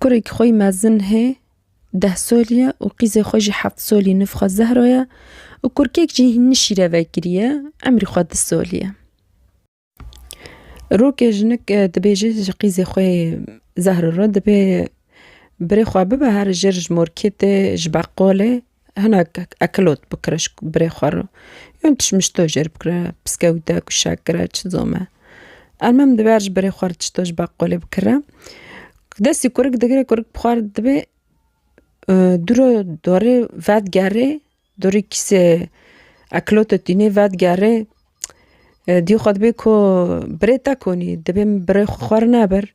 Kurek xwe mezin hê deh solî ye û qîzê xwe jî heft solî niv xwe Zehro ye û kurkek jî nî şîrevekirî ye emrî xwe du solî ye. Rokê jinik dibêje ji qîzê xwe yê Zehro re dibê birê xwe bibe here jer ji morketê ji beqolê Hinek ekilot bikire ji birê xwe re yan tişt mişt toj jêr bikire piskewite ku şek kire çi zome. Elmam diber ji birê xwe re tişt toj beqolê bikire. Destê kurik digire kurik bi xwe re dibê dûro dorê vedigerê dorê kîsê ekilota tînê vedigerê dî xwe dibê ku birê te konî dibê min birê xwe re nebir.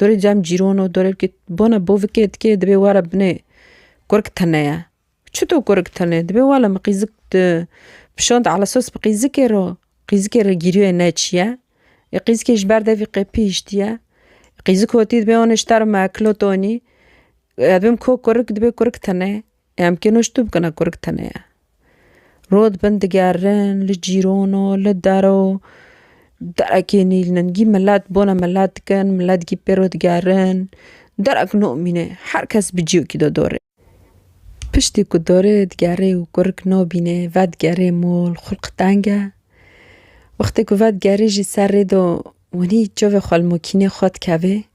Dorê cem cîron o, dorê wikê bona bo vikê dikê dibê were binê kurik tene ye. Çito kurik tene dibê were min qîzik di pişand ala sos bi qîzikê re, qîzikê re gîriyê ne çi ye. Ê qîzikê ji ber devî qepî hiştiye. Qîzik hotî dibê onê ji te re me ekilo tonî. Em bim ko kurik dibê kurik tene. Em kênoştu bikine kurik tune ye. Rû dibin digerin li cîran û li der û derekê nîlin gî milet bona milet dikin milet gî pêr û digerin derek namîne her kes bi cîyokî de dore. Piştî ku dore digerê û kurik nabîne vedigerê mal xulq teng e. Wextê ku vedigerê jî ser rê de winî çavê xwe li makînê xwe dikevê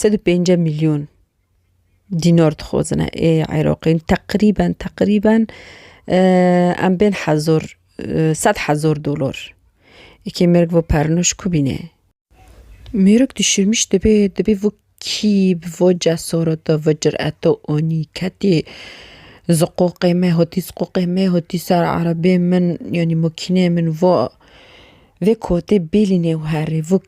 Sed û pênc milyon dînar dixwazin ê Iraqên teqrîben teqrîben em bên hezar sed hezar dolar ekê mêrik vê pernûş ku bîne. Mêrik dişirmîş dibê dibê vê kî bi vê cesareta vê cireta anî ketê ziqoqê me hatî ziqoqê me hatî ser erebê min yanî makîneyê min va vê kotê bêlîne û herê vê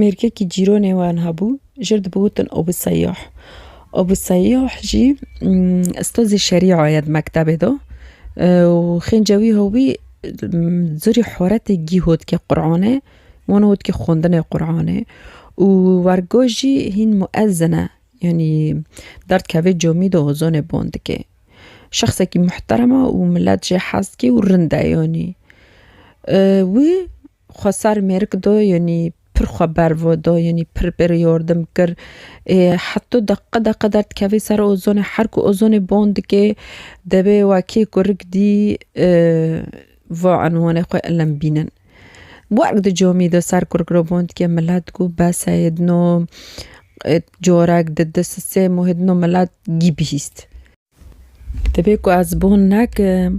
mêrkekî cîronê we niha bû, ji wir dibû wutin Abû Seyyah. Abû Seyyah jî ustazê şerîa ye di mektebê de û xêncê wî hewî zûrî horetê gî hotke Quranê wan hotke xwendinê Quranê û wergo jî hîn muezin e yanî der dikeve camî de ezanê ban dike. Şexsekî muhterem e û milet jê hez dike û rind e yanî. Wî Xwesar mêrik do yonî pir xwe ber vo do yonî pir pir yordim kir. Ê heto deqe deqe der dikevê ser ozonê her ku ozonê bon dikê debê wekî kurik dî vo enwanê xwe ilim bînin. Wek di comî de ser kurik re bon dikê milet ku bes e yê di no corek di di sistêmo yê di no milet gî bihîst. Divê ku ez bon nekim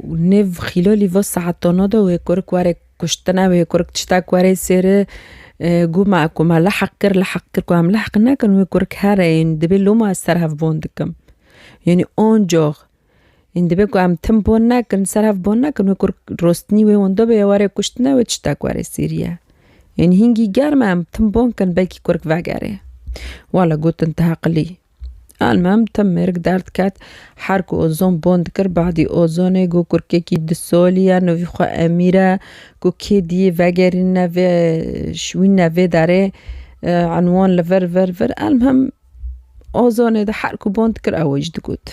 û nêv xîlolî vê saetona de wê kurik were kuştina wê kurik tiştek were sêri gû me ku me lehq kir lehq kir ku em lehq nekin wê kurik here ye divê loma ez ser hev bon dikim yanî oncox ên divê ku em tim bon nekin ser hev bon nekin wê kurik rostinî wê wenda bêye were kuştina wê tiştek were sêrî ye yanî hingî germ e em tim bon kin belkî kurik vegere wala gotin te heqilî. Elmem tim mêrik derd ket. Her ku ozon bon dikir badî ozonê got kurkekî di solî ye nivî xwe Emîr e got kê diyê vegerîne vê şwîne vê derê enwan li vir vir vir elmem ozonê de her ku bon dikir ew jî digot.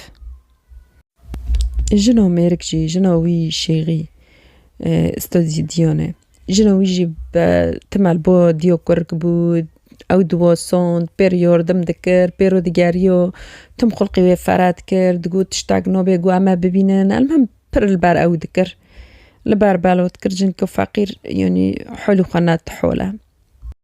Jina mêrik jî jina wî şêxî stodîdîyane. Jina wî jî be timel bo dîyo kurg bû ew diwa sond pê re yardim dikir pê re digeriyo tim xulqê wê fere dikir digot tiştek nabê got em ê bibînin elmîn pir li ber ew dikir li ber belav dikir cinka feqîr yanî holê xwe ne tihol e.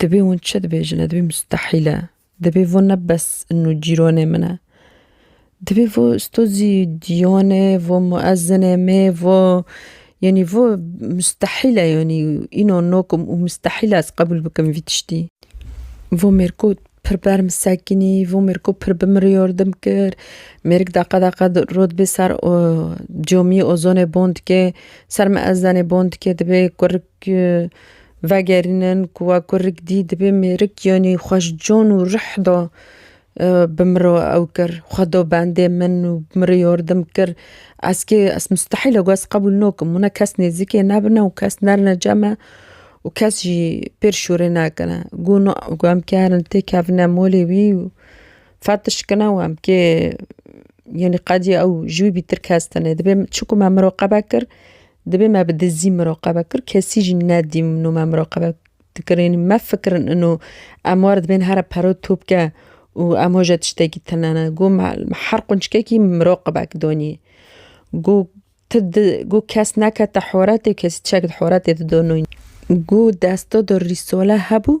Dibê hûn çi dibêjin e? Dibê mustehîl e. Dibê vo ne bes in û cîronê min e. Dibê vo sto zî dîyonê, vo muezzinê mê, vo yanî vo mustehîl e yanî îno nokim û mustehîl e ez qebûl bikim vî tiştî. Vo mêriko pir bi erm sekinî, vo mêriko pir bi min re yordim kir. Mêrik deqe deqe rû dibê ser camiyê ozonê bon dikê, ser miezzenê bon dikê dibê kurik Ku vegerînin ku we ku rik dî dibê mêrik yanî xwe ji can û rih da bi min re ew kir. Xwe da bendê min û min re yardim kir. Ez kê ez mustehîl e ku ez qebûl nakim hûn e kes nêzîkê nebine û kes nerine cem me û kes jî pêr şûrê nekine. Ku na ku em kê herin têkevine malê wî û fetiş kine û em kê yanî qedî ew ji wî bîtir kes tune. Dibê çiqû me min re qebe kir Dibê me bi dizî miraqebe kir, kesî jî nedîm û me miraqebe dikirin. Me fikirin ino em war dibên here pero topke û em hoje tiştekî tune ne. Got me her qunçikekî miraqebek danî. Got ti got kes nekete horetê û kesî çek di horetê de dano. Got desta de rîsale hebû.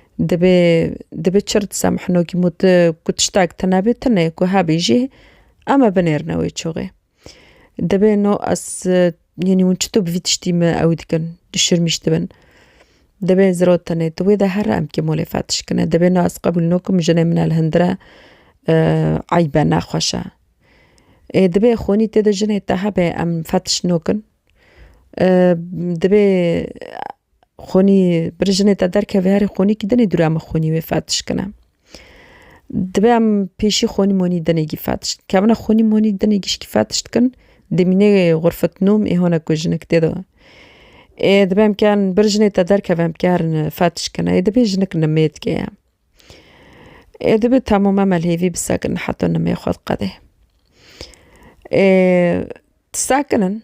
Dibê dibê çir disa mihnokî mû tu ku tiştak tune bê tune ku hebî jî em ê binêrine wê çûxê. Dibê no ez yanî hûn çito bi vî tiştî me ew dikin dişirmîş dibin. Dibê ziro tenê tu wê de her em kê molê fetişkine dibê no ez qebûl nakim jinê min li hundir e eyb e nexweş e. Ê dibê xûnî tê de jinê te hebe em fetiş nakin dibê Xwînî birê jinê te derkeve herî xwînî kî dinê dûra min xwînî wê fetiş kine. Divê em pêşî xwînî monî dinê kî fetiş dikevin xwînî monî dinê gişkî fetiş dikin dê mînê xurfet nom ê hona ku jinik tê de we. Ê divê em kern bir jinê te derkeve em kerin fetiş kine ê dibê jinik nimêdke ye. Ê dibê temû me melhêvî bi sekin heta nimê xwe diqede. Ê ti sekinin.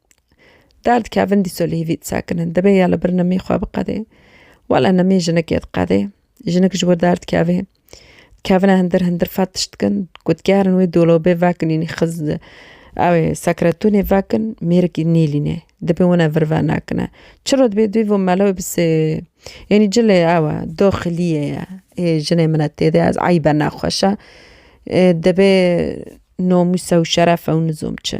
Derd kevin dîso li hîvî disekin in. Dibê ya li bir nimî xwe biqedê. Wele nimî jinikê diqedê. Jinik ji wir derd kevê. Kevine hindir hindir fet tişt dikin. Ku digerin wê dolabê vekin înî xiz di ew ê sekretonê vekin mêrikî nêlîne. Dibê wina vir ve nekine. Çiro dibê duyî vo mele wê bisê Înî cilê ew e doxiliyê ye. Ê jinê min e têde ez eybe nexweşe. Dibê nomûse û şerefe û nizom çi.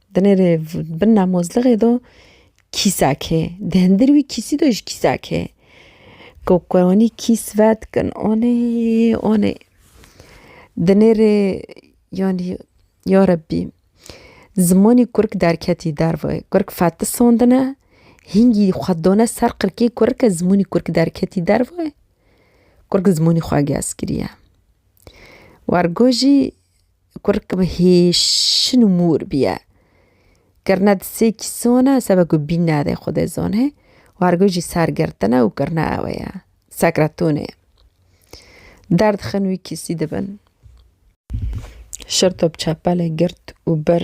Di nêrê bin namozlighê do kîsak hê. Di hindir wî kîsî do jî kîsak hê. Ku kwanî kîs vedikin onê onê. Di nêrê yanî ya Rebbî zimanî kurk derketî derve. Kurk fetdi sondine hîngî xwe dane ser qirkê kurk e zimanî kurk derketî derve. Kurk zimanî xwe gez kiriye. Wergo jî Kurikê min hêşin û mûr bîye. Kirine di sê kîsan e, sebe ku bîn nade Xwedê zanê, wergo jî sergirtin e û kirine ewe ye, sekretonê. Derdixin wî kîsî dibin. Şirtop çepelê girt û bir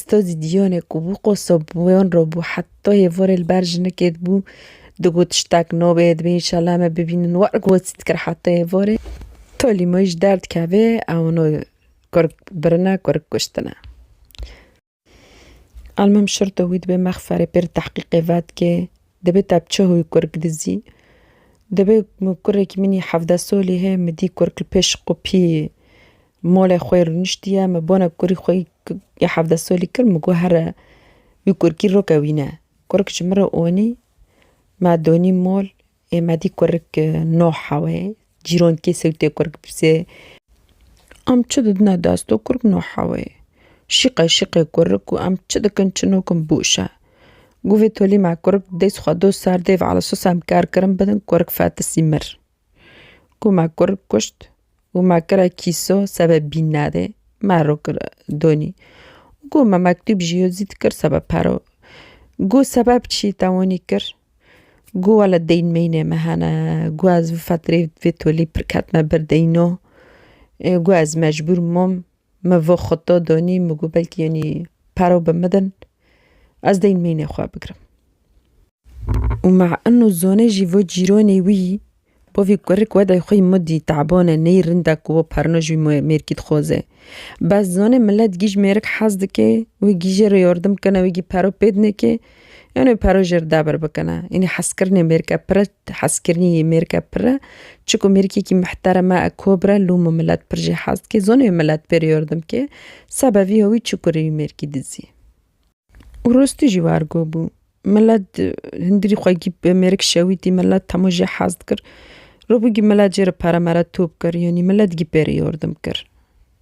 Sto zî dîyonê ku bû qo sobûyon re bû heta hêvorê li ber jinikê dibû digot tiştek nabê divê înşela me bibînin wer got zî dikir heta hêvorê tolî me wî ji der dikevê ew no kurik birine kurik kuştine. Elmim şirto wî dibê mexferê pêr tehqîqê vedikê dibê te bi çi hoyî kurik dizî dibê kurekî min î hevde solî heye min dî kurik li pêş xwe pî Molê xwe rûniştiye, min bona kurî xwe yê hevdeh solî kir, min got here wî kurikî rokewîne. Kurik ji min re onî, me donî mol, ê me dî kurik no hewe ye, cîran kê sewtê kurik bipirse, em çi didine dest û kurik no hewe ye. Şîqe şîqe kurik û em çi dikin çi nakin boş e. Got vê tolî me kurik dest xwe do ser dê ve, ala sos em kar kirin bidin, kurik fetisî mir. Ku me kur kuşt û me kira kîso sebe bînnedê me ro kira donî û ku me mektûb jî yo zît kir sebe pero ku sebeb çî tewonî kir ku wele deyn meynê me hene ku ez fetirê vê tolî pir ketime ber deyno ê ku ez mecbûr mom. Me vê xuto donî min got belkî yenî paro bi min din ez dê mînê xwe bigirim. Û me in û zonê jî vê cîronê wî bo vê kurik we dayê xwe yî min dî taban e neyê rind e ku perno ji wî mêrkî dixwaze. Bes zonê milet gîj mêrik hez dike wê gî jê re yardim bikene wê gî paro pêd neke yanê wê paro jê re dabir bikene. Yenî hezkirinê mêrike pire Te hez kirinî yê mêrke pir e. Çiku mêrkekî mihterem e, kobr e, lû min milet pir jê hez dike. Zonê milet pêrê yordim ke sebevî hewî çiku rê wî mêrkî dizî. Û rostî jî war go bû. Milet hindirî xwe gîp bi mêrik şewîtî, milet hemû jê hez dikir. Rûbûgî milet jê re pere mere top kir. Yanî milet gî pêrê yordim kir.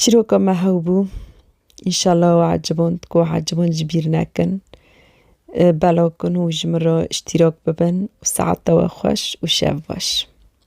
Çîroka me hew bû. Înşallah ew eciband ku ew eciband ji bîr nekin. Belaw kin û ji min re îştîrak bibin û saetewe xweş û şev baş.